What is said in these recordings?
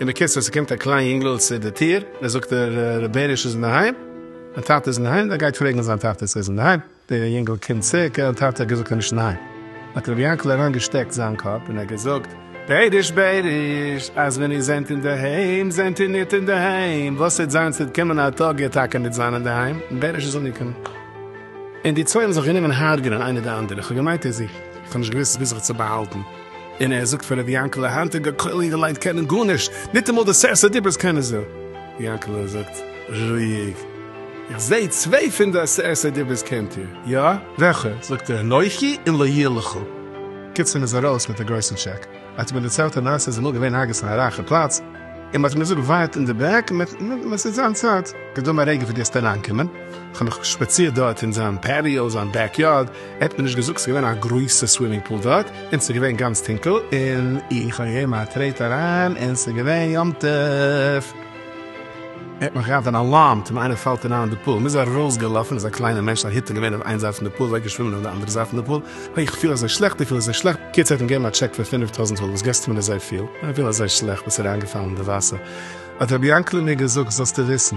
אין בקיצור ס'קומט א קליין יונגעל צו די טיר און זאגט ער ר' בעריש איז אינדערהיים? מיין טאטע איז אינדערהיים? ער גייט פרעגן זיין טאטע צו ער איז אינדערהיים, די יונגעל קומט צו ק א טאטע האט געזאגט ער איז נישט אינדערהיים, האט ר' יענקל אריין געשטעקט זיין קאפ און ער געזאגט בעריש בעריש אז ווען איר זענט אינדערהיים זענט איר ניט אינדערהיים, וואס העט זיין ס'עט קומען א טאג איר טאקע ניט זיין אינדערהיים, און בעריש איז אנגעקומען און די צוויי האבן זיך גענומען הרג'נען איינער די אנדערע, כ'האב געמיינט ער זוכט, כ'האב נישט געוואוסט ביז זיך צו באהאלטן. און ער זאגט פאר רבי יענקעלע היינטיגע כולל אינגעלייט קענען גארנישט, ניטאמאל די סערסע דיברות קענען זיי. רבי יענקעלע זאגט רואיג, איך זעה צוויי פון די עשרת הדיברות קענט איר, יא? וועלכע? זאגט ער אנכי און לא יהיה לך. קיצור מ'איז ארויס מיט א גרויסן טשעק. ער האט מיר דערציילט די מעשה איז אמאל געווען ארגעץ אין א רייכע פלאץ, און מ'האט אים געזאגט ווארט אין די בעק, מען ס'איז זיין צייט, געדאן א רגע וועט געסט אריינקומען, איך האב מיך שפאצירט דארט אין זיין פעטיאו, זיין בעק יארד, ער האט מיר נישט געזאגט, ס'איז געווען א גרויסע סווימינג פול דארט, און ס'איז געווען גאנץ טונקל, און איך האב געגעבן א טרעט אריין, און ס'איז געווען יום טוב. ער האט מיך געהאט אן אלארם, טאמער איינער פאלט אריין אין די פול. מ'איז ארויס געלאפן, איז א קליינע מענטש, א היטל געווען אויף איין זייט פון די פול, אוועקגעשווימען אויף די אנדערע זייט פון די פול, אוי איך פיל אזוי שלעכט, איך פיל אזוי שלעכט, בקיצור ער האט אים געגעבן א טשעק פון פינף טויזנט רובל, וואס געסטו מיר אזוי פיל, איך פיל אזוי שלעכט, ביסט אריינגעפאלן אין די וואסער, האט רבי יענקל'ע מיר געזאגט, זאלסטו וויסן.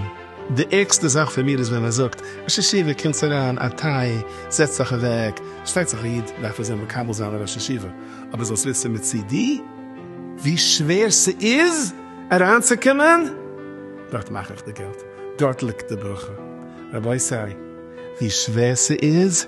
די ערגסטע זאך פאר מיר איז ווען מען זאגט, ראש ישיבה קומטס אריין, א טיי, זעצט זיך אוועק, פארשטייט זיך א איד דארף אויסזען מקבל זיין א ראש ישיבה, אבער זאלסט וויסן מצידי ווי שווער ס'איז אריינצוקומען, דארט מאך איך די געלט, דארט ליגט די ברכה, רבותי ווי שווער ס'איז,